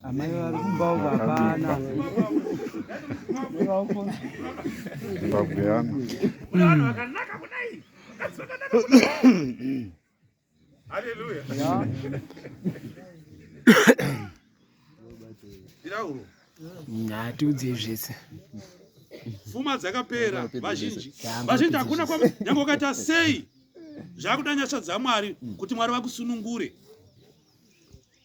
Amai vari kumba uko hapana. Zimbabwe yana. Kuna vanhu vakanaka kudai. Vakadzi vakanaka kudai. Haleluya. Birauro. Ngatiudze zvese. Fuma dzakapera vazhinji. Vazhinji hakuna kwa nyange ukaita sei. Zvakuda nyasha dzaMwari kuti Mwari vakusunungure.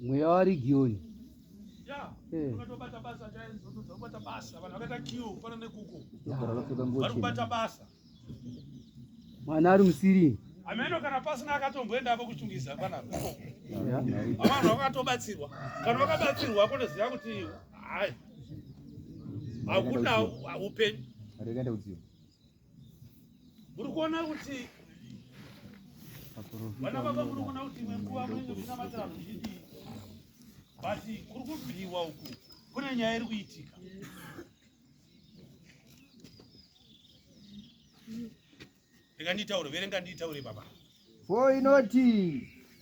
mweya warigioni eh. vakatobata basa chaizobata basa vanhu vakaita kiu fana nekuko vari kubata basa mwana ari musiri ameno kana pasina akatomboendako kuchungisa panapa avanhu vakatobatsirwa kana vakabatsirwa akotoziva kuti hai hakuna upenyu muri kuona kuti vana baba muri kuona kuti imwe nguva munenge muchinamatira zvichidii but kuri kubviwa uku kune nyaya iri kuitika rega nditaure verenga nditaure baba fo inoti